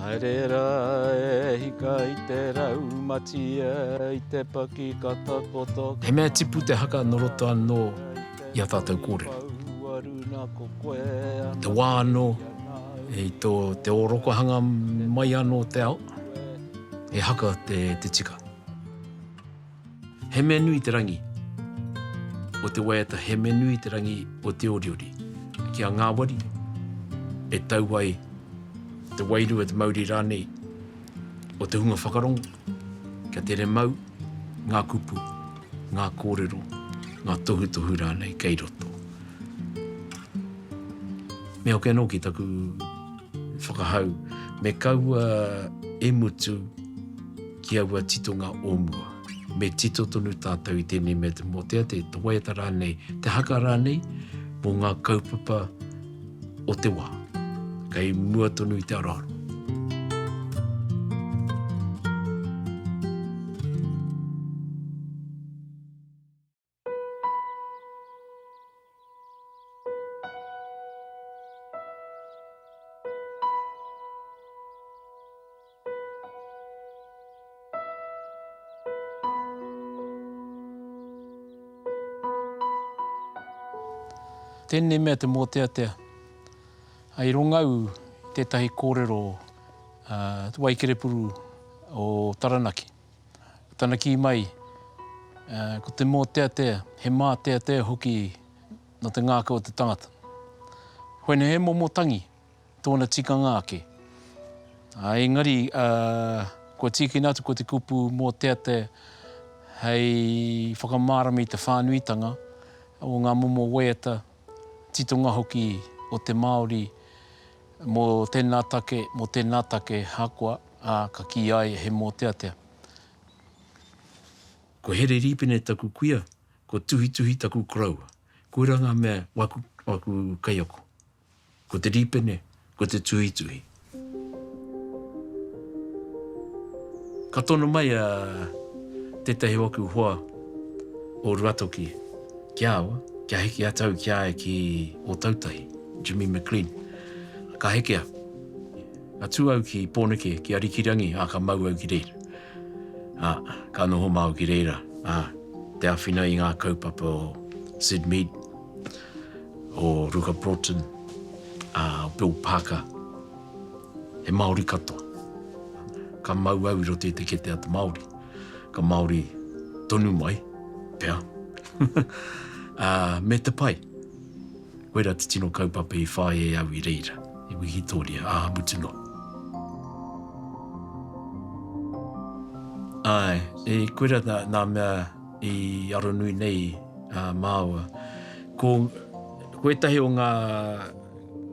Haere rā e hika i te raumatia, i te paki ka takoto ki. He mea tipu te haka nō roto anō i ā tātou kōrero. I te wā anō, i tō te ōrokohanga mai anō o te ao, he haka te tika. He mea nui te rangi o te waiata, he mea nui te rangi o te oriori. Ki a ngāwari, e tau ai te wairua, te mauri rānei o te hunga whakarongo, kia tere mau ngā kupu, ngā kōrero, ngā tohutohu rānei kei roto. Me hoki anō ki taku whakahau, me kaua e mutu, ki aua titonga o mua. Me tito tonu tātou i tēnei mea te mōtea, te waiata rānei, te haka rānei mō ngā kaupapa o te wā, kei mua tonu i te aroaro. Tēnei mea te mōteatea, i rongau tētahi kōrero Waikerepuru o Taranaki. Tana kī mai, ko te mōteatea, he māteatea hoki nō te ngākau o te tangata. Koinei he momo tangi, tōna tikanga ake. Engari, kua tīkina atu ko te kupu mōteatea hei whakamārama i te whānuitanga o ngā momo waiata, titonga hoki o te Māori Mō tēnā take, mō tēnā take ahakoa, ā, ka kīia ai he mōteatea. Ko Here Rīpene taku kuia, ko Tuhituhi taku koroua. Koirā ngā mea o aku, o aku kaiako. Ko te rīpene, ko te tuhituhi. Ka tono mai a tētahi o aku hoa o Ruatoki. Ki a au, kia hiki atu au ki a ia ki Ōtautahi, Jimmy McLean. Ka heke au. Ka tū au ki Pōneke, ki Arikirangi, ā, ka mau au ki reira. Ā, ka noho mā au ki reira, ā, te āwhina i ngā kaupapa o Syd Mead, o Ruka Broughton, ā, o Bill Parker, he Māori katoa. Ka mau au i roto i te kete a te Māori. Ka Māori tonu mai. Pea. Ā, me te pai. Koirā te tino kaupapa i whāia e au i reira, i wikitoria, ā, mutu noa. Āe, e, koirā nā, nā mea i aronui nei a māua. Ko, ko ētahi o ngā,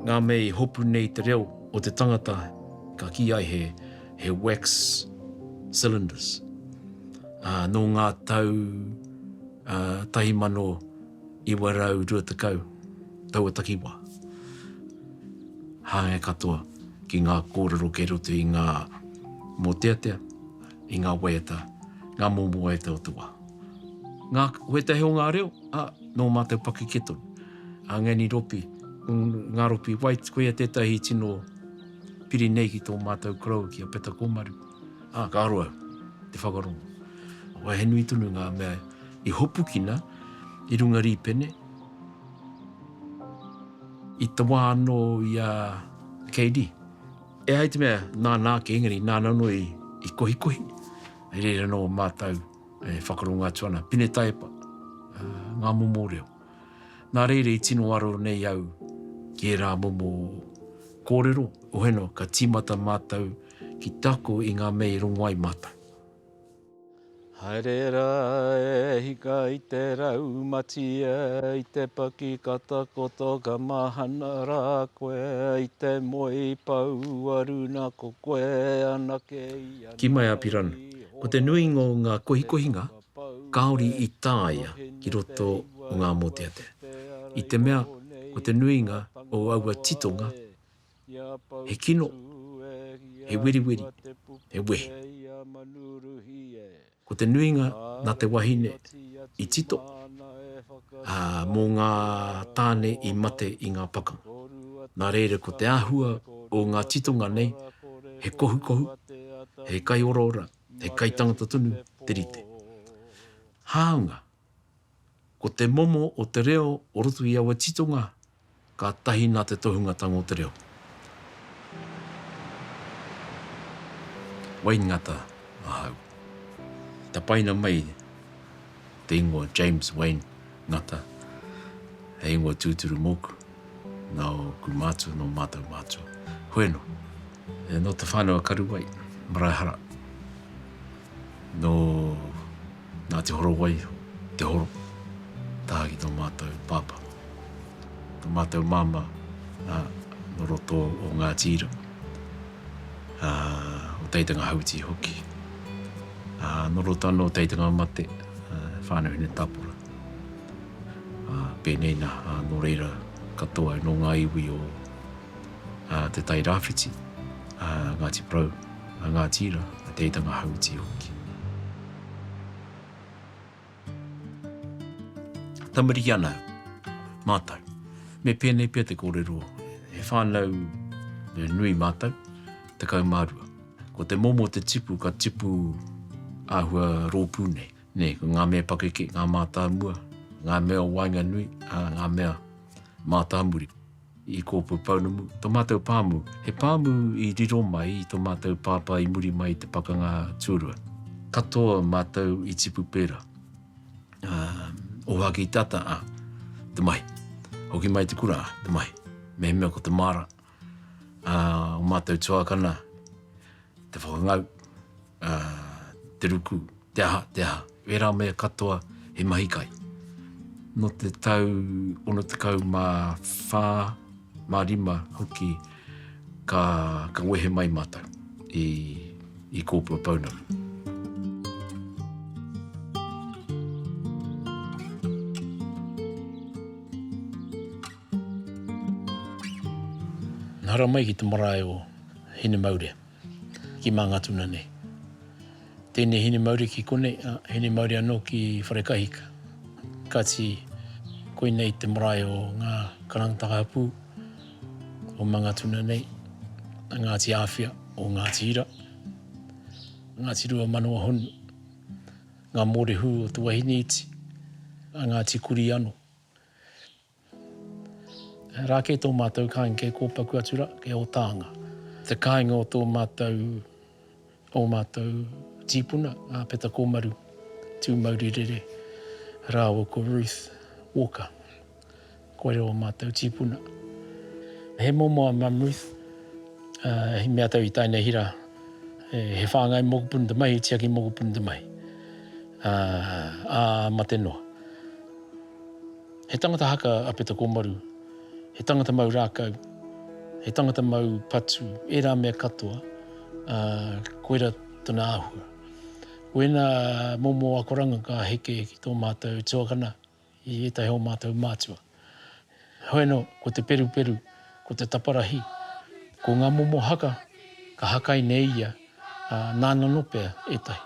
ngā mea i hopu nei i te reo o te tangata, ka kī ai he. he wax cylinders. Ā, nō ngā tau uh, 1920 taua takiwā. Hāngai katoa ki ngā kōrero kei roto i ngā mōteatea, i ngā waiata, ngā momo waiata o te wā. Ngā wetahe o ngā reo, a, nō mātou pakeke tonu. A Ngani Ropi, ngā Ropi White, koia tētahi tino piri nei ki tō mātou koroua ki a Peta Kōmaru, ā, ka aro au i te whakarongo. Wā he nui tonu ngā mea i hopukina i runga rīpene. I te wā anō i a Keidi, e ai te mea nāna ake engari nāna anō i kohikohi, i reira anō mātou e whakarongo atu ana, pine taiepa, ngā momo reo. Nā reira i tino aro nei au ki ērā momo kōrero, hono ka tīmata mātou ki te ako i ngā mea i rongo ai mātou. Haere rā e hika i te raumatia, i te paki ka takoto ka mahana rā koe, i te moe paua runa ko koe anake i a Nāwai. Ki Maiapiran, ko te nuinga o ngā kohikohinga kāore i tāia ki roto o ngā mōteatea, i te mea ko te nuinga o aua titonga he kino, he weriweri, he wehi. Ko te nuinga nā te wahine i tito, ā, mō ngā tāne i mate i ngā pakanga. Nā reira ko te āhua o ngā titonga nei he kohukohu, he kaioraora, He kaitangata tonu te rite. Hāunga, ko te momo o te reo o roto i aua titonga ka tahi nā te tohungatanga o te reo. Wayne Ngata ahau. Tapaina mai. te ingoa James Wayne Ngata, he ingoa tūturu mōku, nōku mātua, nō mātou mātua. Hoi anō. E nō Te Whānau a Karuwai, Maraehara, nō Ngāti Horowai, Te Horo, taha ki tō mātou pāpā. Tō mātou māmā, nō roto o Ngāti Ira. ā, o Teitanga Hauiti hoki. Ā, nō roto anō o Teitanga Mate, ā, whānau hine tāpura. Ā, pēnei nā, ā, nō reira katoa, nō ngā iwi o, ā, Te Tai Rāwhiti, ā, Ngāti Porou, a Ngāti Ira, a Teitanga Hauiti hoki. Tamariki ana mātou. Me pēnei pea te kōrero, he whānau nui mātou, tekau mā rua. Ko te momo te tipu, ka tipu āhua rōpū nei. Nē, ko ngā mea pakeke, ngā mātāmua, ngā mea o waenganui, ā, ngā mea mātāmuri. i kōpū pounamu, tō mātou pāmu, he pāmu i riro mai i tō mātou pāpā i muri mai i te pakanga tūrua. Katoa mātou i tipu pērā. Oha ki tata, a, te mahi. Hoki mai te kura, te mahi. Mehemea ko te māra, a, o mātou tuakana, te whakangau. ā, te ruku, te aha, te aha, ērā mea katoa he mahi kai. Nō te tau 64, 65 hoki ka, ka wehe mai mātou i, i Kōpua Pounamu. Nā hara mai ki te marae o Hinemaurea. Ki Mangatuna nei. Tēnei hine mauri ki konei, ā, hine mauri anō ki Wharekahika. Kāti, koinei te marae o ngā karangataka hapū o Mangatuna nei, a Ngāti Āwhia o Ngāti Ira, Ngāti Ruamanawa-honu, ngā mōrehu o Te Wahine Iti, a Ngāti Kuri anō. Rā kē tō mātou kāinga kei kōpaku atu rā, kei Ōtānga. Te kāinga o tō mātou, ō mātou tīpuna, a Peta Kōmaru, Tūmaurirere, rāua ko Ruth Walker. Koirā ō mātou tīpuna. He momo a Mum Ruth, i mea tau i tae nei hira, he whāngai mokopuna te mahi, he tiaki mokopuna te mahi, ā mate noa. He tangata haka a Peta Kōmaru, he tangata mau rākau, he tangata mau patu, ērā mea katoa, ā, koirā tona āhua. Ko ēnā momo akoranga ka heke ki tō mātou tuakana i ētahi o mātou mātua. Heoi anō, ko te peruperu, ko te taparahi, ko ngā momo haka ka hakai nei ia, ā, nāna anō pea ētahi.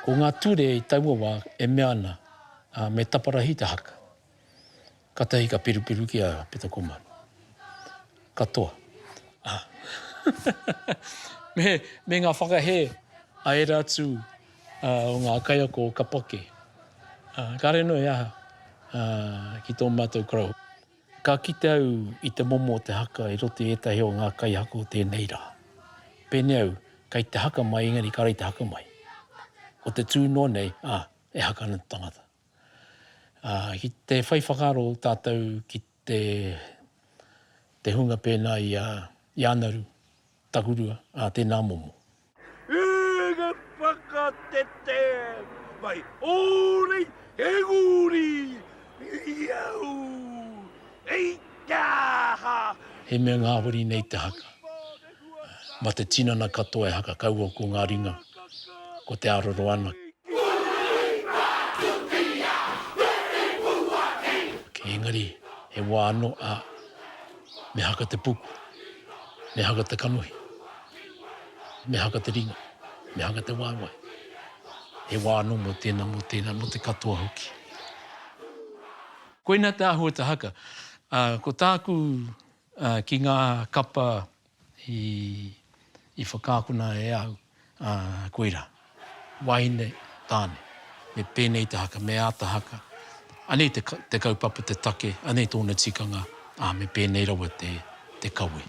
Ko ngā ture i taua wā e mea ana, ā, me taparahi te haka. Katahi ka pirupiru ki a Pita Komaru. Katoa, ā, me, me ngā whakahē a ērā atu, ā, o ngā kaiako o Kapake, ā, kāre noa he aha, ā, ki tō mātou Crow. Ka kite au i te momo o te haka i roto i ētahi o ngā kaihaka o tēnei rā. Pēnei au, kei te haka mai, engari kāre i te haka mai. Ko te tū noa nei, ā, e haka ana te tangata. Ā, ki te whai whakaaro tātou ki te, te hunga pēnā i a, i a Anaru, Takurua, ā, tēnā momo. E nga whakatete mai orei he guri iau ei te aha. He mea ngahori nei te haka. Ma te tinana katoa e haka kaua ko nga ringa, ko te aroro ana. Engari he wa ano a me haka te puku, me haka te kanohi. Me haka te ringa, me haka te waewae. He wā anō mō tēnā, mō tēnā, mō te katoa hoki. Koina te āhua o te haka. Ko tāku ki ngā kapa i whakaakona e au, koirā. Wahine, Tāne. Me pēnei te haka, me āta haka. Anei te, te kaupapa, te take, anei tōna tikanga, ā, me pēnei rawa te, te kawe.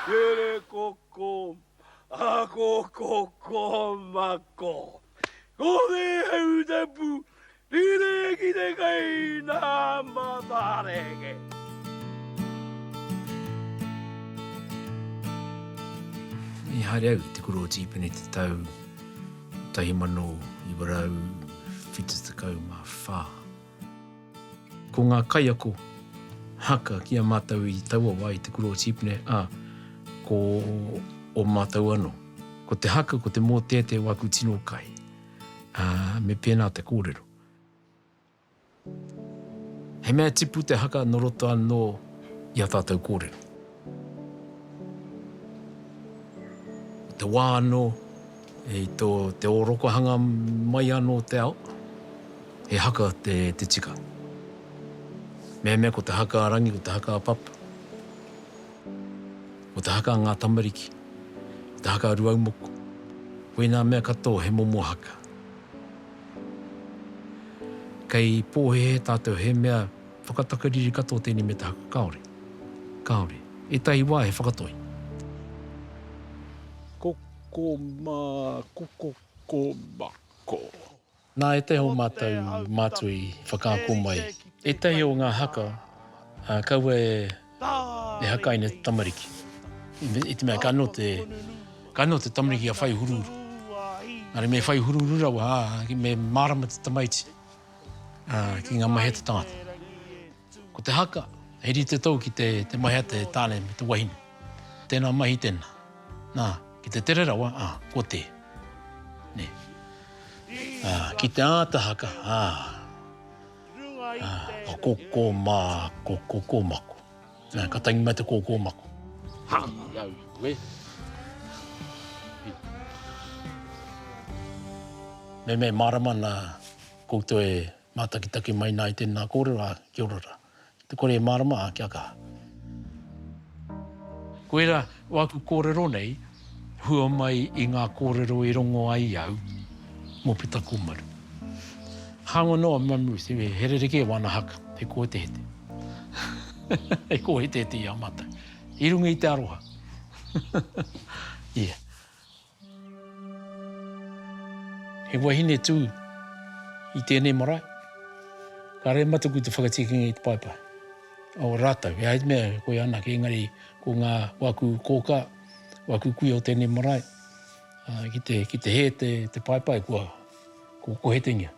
Here koko, ako koko mako. Ko te hautapu rere ki te kai nā matareke. I haere au i te kura o Tīpene te tau 1974. Ko ngā kaiako haka ki a mātou i taua wā i te kura o Tīpene, ā, ko ō mātou anō. Ko te haka, ko te mōteatea o aku tino kai, ā, me pēnā te kōrero. He mea tipu te haka nō roto anō i ā tātou kōrero. I te wā anō, i tō te ōrokohanga mai anō o te ao, he haka te tika. Meamea ko te haka a Rangi, ko te haka a Papa, ko te haka a ngā tamariki, ko te haka a Ruaumoko, koinā mea katoa he momo haka. Kei pōhēhē tātou he mea. Whakatakariri katoa tēnei me te haka kāore, kāore. Ētahi wā he whakatoi. Koko mā, koko ko ma ko. Nā ētahi o mātou mātua i whakaako mai ētahi o ngā haka, ā, kaua e haka ai nei te tamariki. I te mea ka noho te, ka noho te tamariki kia whai huruhuru. Engari me whai huruhuru rawa, ā, me mārama te tamaiti. ki ngā mahi a te tangata. Ko te haka, he rite tou ki te mahi a te tāne me te wahine. Tēnā mahi tēnā. Nā, ki te tere rawa, ā, kua tē. Nē. Ā, ki te āta haka, ā, ā, ko koko mā, ko koko mako. Nā, ka tangi mai te kōkōmako. Hāngai au i koe. Me me mārama nā koutou e mātakitaki mai nā i tēnā kōrero, ā, kia ora rā. Ki te kore e mārama, ā, kia kaha. Koirā, o aku kōrero nei, hua mai i ngā kōrero i rongo ai au mō Pita Kōmaru. Hāngai noa me Ruth, he rerekē wāna haka, he kōhetehete. he kōhetehete i a mātou. I runga i te aroha. yeah. He wahine tū i tēnei marae. Ka rehe mataku te whakatikinga i te paepae. O rātou, he haidmea koe anake, engari ko ngā wāku kōkā, Kua kukuia o tēnei marae ki te hē te paepae kua kohetengia.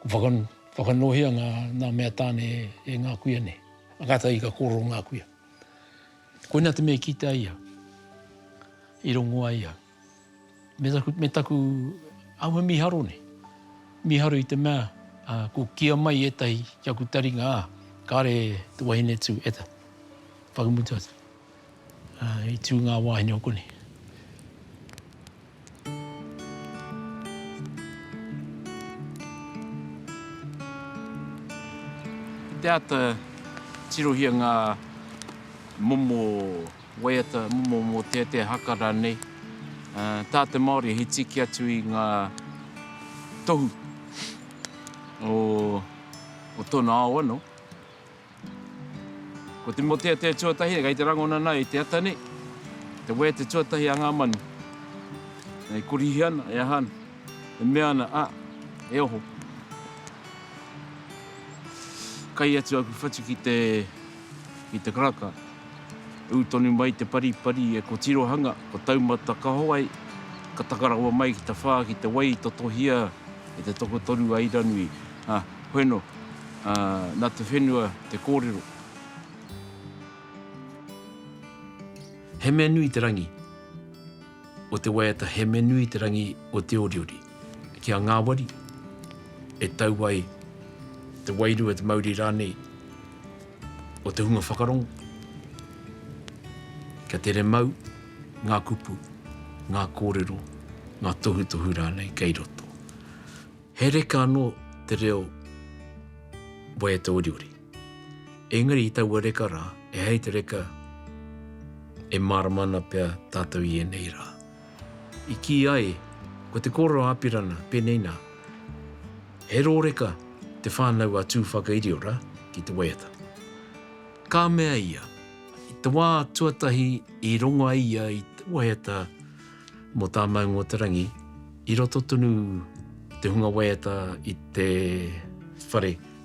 Kua whakanōhia ngā mea tāne e ngā kuia nei. A kātahi ka kōrero ngā kuia. Koina te mea i kite ai ia, i rongo ai ia. me taku aua miharo nei. Miharo i te mea ko kia mai etahi ki aku taringa a, kare te wahine tu e ta, whakamutu atu. I tu nga wahine o konei. Te ata tirohia nga momo. Waiata momo mō tētea haka rānei. Tā te Māori he tiki atu i ngā tohu o tōna ao anō. Ko te mō tētea tuatahi, kei te rangona ana i te ata nei, te waiata tuatahi a ngā manu. E korihi ana, e aha ana, e mea ana, a, e oho. Kai atu aku whatu ki te. ki te karaka. Ū tonu mai te paripari e ko Tirohanga, ko Taumata Kahowai, ka taka rawa mai ki te whā ki te wai i totohia e te tokotoru a Iranui. Ā, hoi anō, ā, nā te whenua te kōrero. He mea nui te rangi. o te waiata Hemenui te rangi o Te Oriori, ki a ngāwari, e tau ai te wairua, te mauri rānei o te hunga whakarongo. Kia tere mau ngā kupu, ngā kōrero, ngā tohutohu rānei kei roto. He reka anō te reo waiata oriori. Engari i taua reka rā, e hei te reka e mārama ana pea tātou i ēnei rā. I kī ai, ko te kōrero a Apirana, pēnei nā, He rōreka te whānau a Tūwhakairiora ki te waiata. Ka mea ia, i te wā tuatahi i rongo ai ia i te waiata mō tā Maungōtarangi, i roto tonu te hunga waiata i te whare,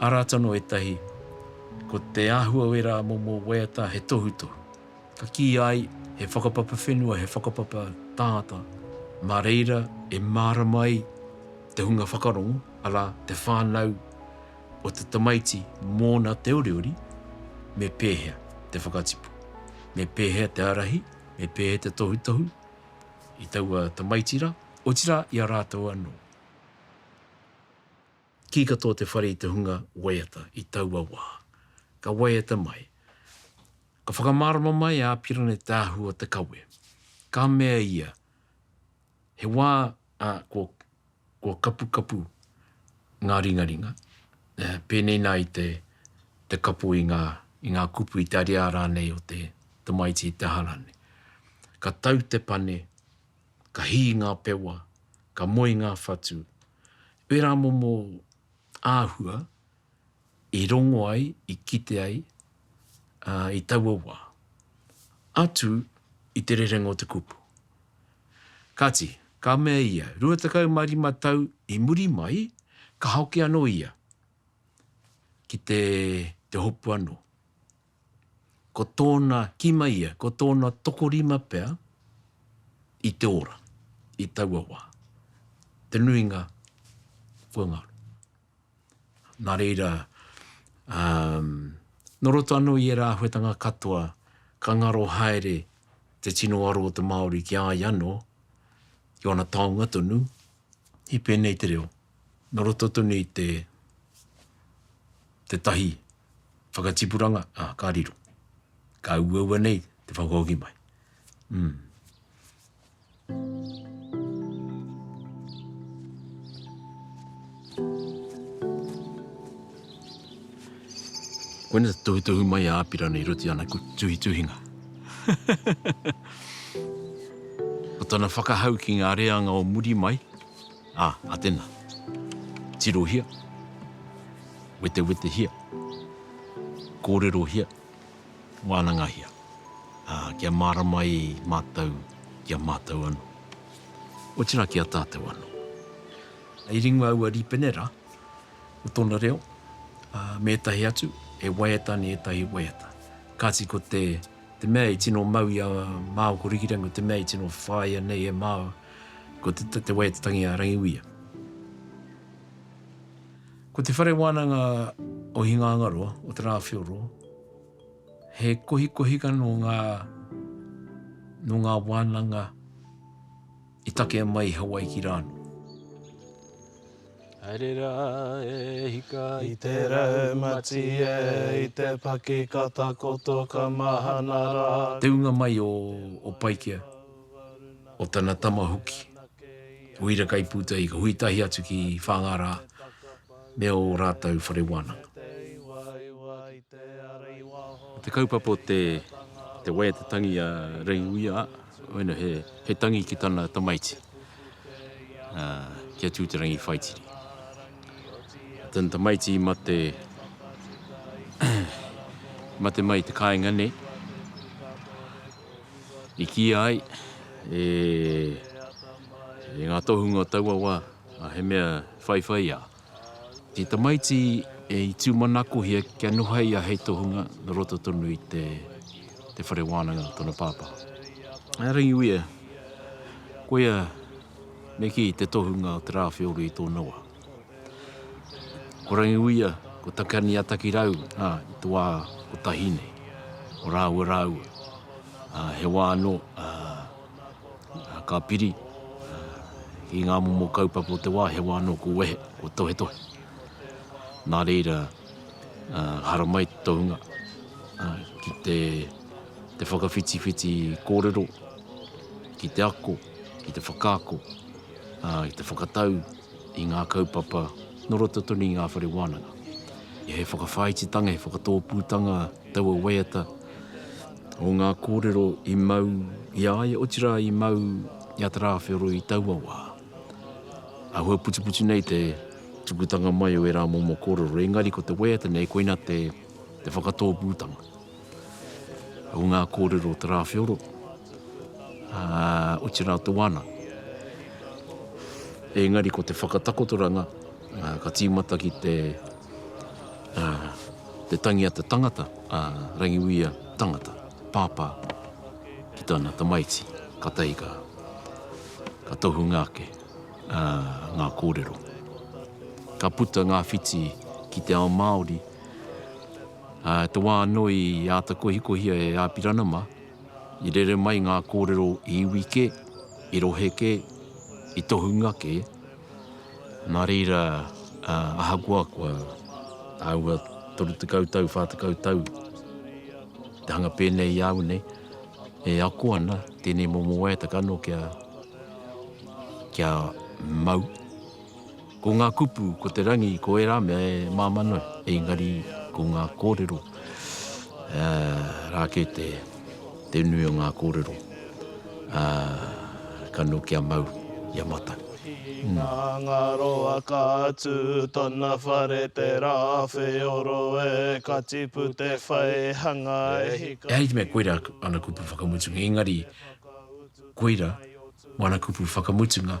Arā tono ētahi, ko te āhua o ērā momo waiata he tohutohu. Ka kīia ai, he whakapapa whenua, he whakapapa tāngata, mā reira e mārama ai te hunga whakarongo, arā, te whānau o te tamaiti mōna te oriori, me pēhea te whakatipu, me pēhea te ārahi, me pēhea te tohutohu i taua tamaiti rā, otirā i a rātou anō. Kī katoa te whare i te hunga waiata i taua wā. Ka waiata mai. Ka whakamārama mai a Apirana i te ahu o te kawe. Ka mea ia, He wā ā, kua, kua kapukapu ngā ringaringa, ā, pēnei nā i te, te kapo i ngā, i ngā kupu, i te ariā rānei o te tamaiti i te aha rānei. Ka tau te pane, ka hī ngā pewa, ka moe ngā whatu. Ērā momo āhua i rongo ai, i kite ai i taua wā. Atu i te rerenga o te kupu. Kāti, ka mea ia, rua tekau mā rima tau i muri mai, ka hoki anō ia ki te hopu anō. ko tōna kima ia, ko tōna tokorima pea i te ora i taua wā, te nuinga kua ngaro. Nā reira, nō roto anō i ērā āhuetanga katoa, ka ngaro haere te tino aro o te Māori ki a ia anō, ki ōna taonga tonu, i pēnei te reo. Nō roto tonu i te tētahi whakatipuranga, ā, ka riro. Ka uaua nei te whakahoki mai. Koina te tohutohu mai a Apirana i roto i ana tuhituhinga. Ko tana whakahau ki ngā reanga o muri mai. Ā, a tena, tirohia, wetewetehia, kōrerohia, wānangahia, ā, kia mārama ai mātou ki a mātou anō, otirā ki a tātou anō. I ringa aua rīpene rā o tōna reo, ā, me ētahi atu, e waiata ana i ētahi waiata. Kāti ko te, te mea i tino mau i a Māo ko Rikirangi ko te mea i tino whāia nei e Māo, Ko te tate wai te tangi a Rangiuia. Ko te whare wānanga o Hingangaroa, o Te Rāwheoroa, he kohikohinga nō ngā, nō ngā wānanga i takea mai i Hawaiki rānō. Haere rā e hika i te raumati e, i te paki ka takoto ka mahana rā. Te ūnga mai o, o Paikea. o tana tama hoki, o Irakaipūtahi ka hui tahi atu ki Whāngārā me ō rātou whare wānanga. Ko te kaupapa o te te wai a te tangi a Reihuia, waina he he tangi ki tana tamaiti, ā, ki a Tūterangi Whaitiri. Ko tana tamaiti i mate i mate mai i te kāinga nei, I kīia ai e ngā tohunga o taua wā, he mea whaiwhaiā. Te tamaiti i tūmanakohia kia nuhaia hei tohunga nō roto tonu i te whare wānanga o tōna pāpā. A Rangiuia, koia me kī te tohunga o Te Rāwheoro i tōna wā. Ko Rangiuia, ko Takiani a Takirau, ā, i te wā kotahi nei, ko rāua rāua, ā, he wā anō, ā, ka piri, ā, ki ngā momo kaupapa o te wā, he wā anō kua wehe, kua tohetohe. Nā reira, ā, haramai te tohunga, ā, ki te, te whakawhitiwhiti kōrero, ki te ako, ki te whakaako, ā, ki te whakatau, i ngā kaupapa nō roto tonu i ngā whare wānanga. He whakawhāititanga, he whakatōpūtanga taua waiata o ngā kōrero i mau i a ia, otirā i mau i a Te Rāwheoro i taua wā. Āhua putiputi nei te tukutanga mai o ērā momo kōrero, engari ko te waiata nei koina te whakatōpūtanga. o ngā kōrero o Te Rāwheoro, ā, oti rā te wānanga. Engari ko te whakatakotoranga, ā, ka tīmata ki te, ā, te tangi a te tangata, a Rangiuia tangata, pāpā ki tana tamaiti, kātahi ka, ka tohunga ake, ā, ngā kōrero. Ka puta ngā whiti ki te ao Māori, te wā anō i āta kohikohia e Āpiranama, i rere mai ngā kōrero i iwi kē, i rohe kē, i tohunga kē. Nā reira, ahakoa kua āhua 30 tau, 40 tau te hanga pēnei i a au nei, e ako ana tēnei momo waiata kanoa kia mau. Ko ngā kupu, ko te rangi, ko ērā mea e māmā noa, engari ko ngā kōrero rā kē te nui o ngā kōrero ka nō kia mau i a mātou. Nā ngā roa ka tū tōna whare te rā wheoro e ka tipu te whai hanga e hika tonu. Ehara i te mea koirā ana kupu whakamutunga engari koirā ana kupu whakamutunga.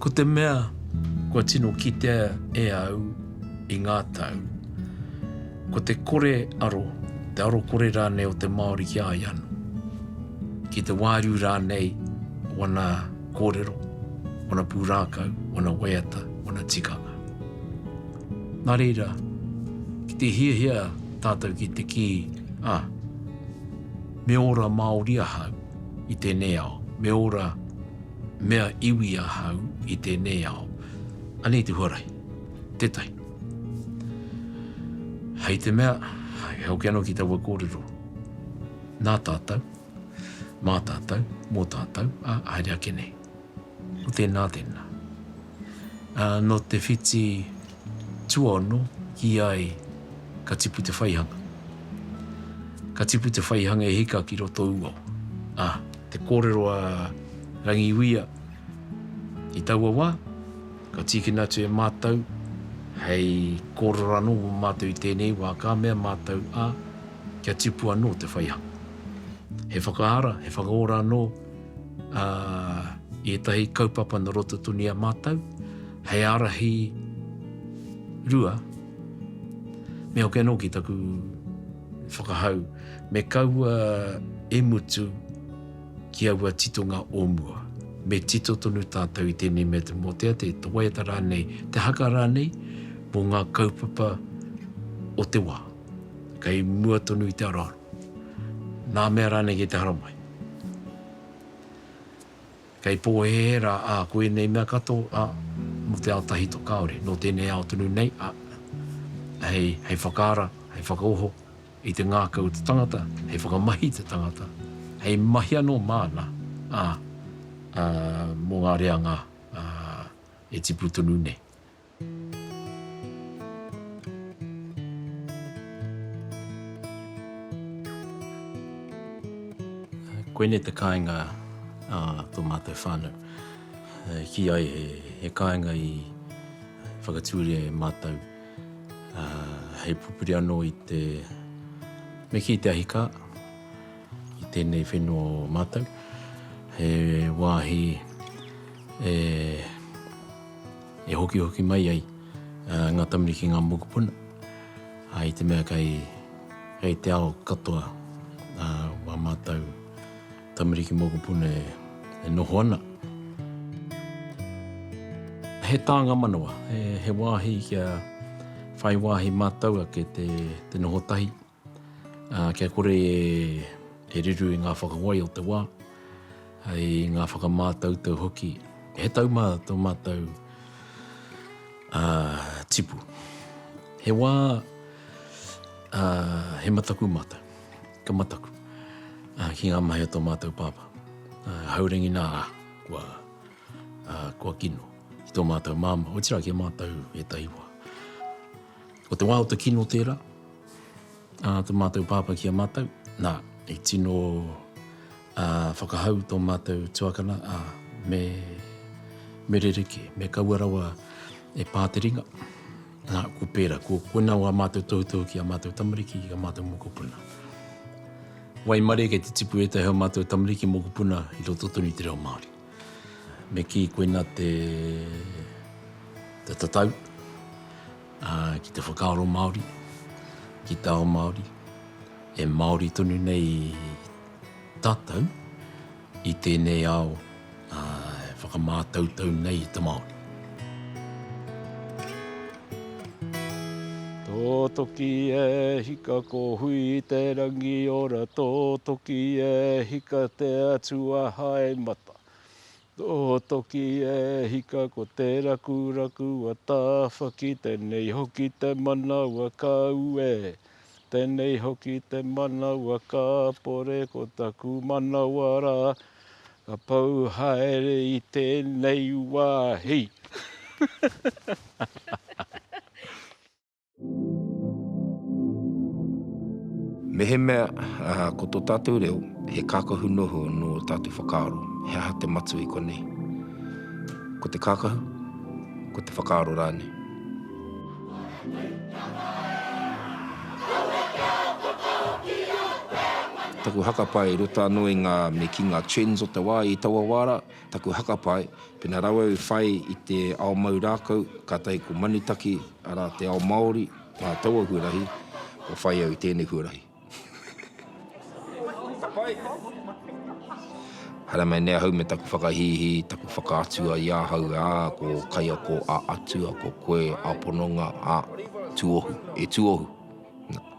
Ko te mea kua tino kitea e au i ngā tau, ko te kore aro, te aro kore rānei o te Māori ki a ia anō, ki te wāriu rānei wana kōrero, wana pūrākau, wana waiata, wana tikanga. Nā reira, ki te hiahia tātou ki te kī, Ah, me ora Māori ahau i tēnei ao, me ora mea iwi ahau i tēnei ao, anei te huarahi, tētahi. Hei te mea, hei hoki anō ki taua kōrero, nā tātou, Mā tātou, mō tātou, ā, haere ake nei. Ko tēnā, tēnā. Ā, nō te whiti tuaono, kī ai, ka tipu te whaihanga. Ka tipu te whaihanga e hika ki roto ū ao. Ā, te kōrero a Rangiuia, i taua wā, ka tīkina atu e mātou hei kōrero anō mō mātou i tēnei wā, ka mea mātou, ā, kia tipu anō te whaihanga. He whakaara, he whakaora anō i ētahi kaupapa nō roto tonu i a mātou, hei ārahi rua, me hoki anō ki taku whakahau, me kaua e mutu ki aua titonga o mua. Me tito tonu tātou i tēnei mea te mōtea, te waiata rānei, te haka rānei, mō ngā kaupapa o te wā. kei mua tonu i te aroaro, nā mea rānei kei te haramai. Kei pōhēhē rā, ā, ko ēnei mea katoa, ā, mō te ao tahito kāore, nō tēnei ao tonu nei, ā, hei, hei whakaara, hei whakaoho i te ngākau o te tangata, hei whakamahi i te tangata, hei mahi anō māna, ā, ā, mō ngā reanga, ā, e tipu tonu nei. Koinei te kāinga a tō mātou whānau. Kī ai he kāinga i whakatūria e mātou hei pupuri anō i te me kī te ahikā i tēnei whenua o mātou. He wāhi e... e hokihoki mai ai ngā Tamariki ki ngā mokopuna, ā, i te mea kei, kei te ao katoa wā mātou Tamariki mokopuna e noho ana. He tānga manawa, he wāhi kia whai wāhi mātou ake te noho tahi. Kia kore e riru i ngā whakawai o te wā, i ngā whakamātautau hoki, he tau mā tō mātou tipu. He wā, he mataku mātou, ka mataku ki ngā mahi o tō mātou pāpā. Haurangi nā rā, kua kino ki tō mātou māmā, otirā ki a mātou ētahi wā. Ko te wā o te kino tērā. Ā, tō mātou Pāpā ki a mātou, nā, i tino, ā, whakahau tō mātou tuakana, ā, me, me rerekē, me kaua rawa e pā te ringa. Nā, ko pērā, ko, koinā wā mātou tohutohu ki ā mātou tamariki, ki ā mātou mokopuna. Waimarie kei te tipu ētahi o mātou tamariki mokopuna i roto tonu i te reo Māori. Me kī, koinā te, te tatau. Ki te whakaaro Māori, ki te ao Māori, e Māori tonu nei tātou i tēnei ao e whakamātautau nei i te Māori. Tōtoki e hika ko Hui te rangi ora Tōtoki e hika te Atua hae mata Tohotoki e hika ko te rakuraku a Tāwhaki Tēnei hoki te manawa ka uē Tēnei hoki te manawa ka pore Ko taku manawa rā ka pau haere i tēnei wāhi. Mehemea ko tō tātou reo he kākahu noho nō ō tātou whakaaro, he aha te matua i konei? Ko te kākahu, ko te whakaaro rānei. Taku haka pae, roto anō i ngā, me kī, ngā trends o te wā i taua wā rā. Taku hakapae, pena rawe au i whai i te ao mau rākau, kātahi ko Manutaki, arā, te ao Māori, nā taua huarahi, kua whai au i tēnei huarahi. Haere mai nei ahau me taku whakahīhī, taku whakaatua i ahau, ā, ko Kaiako a Atua, ko koe a Pononga, ā, tuohu, e tuohu.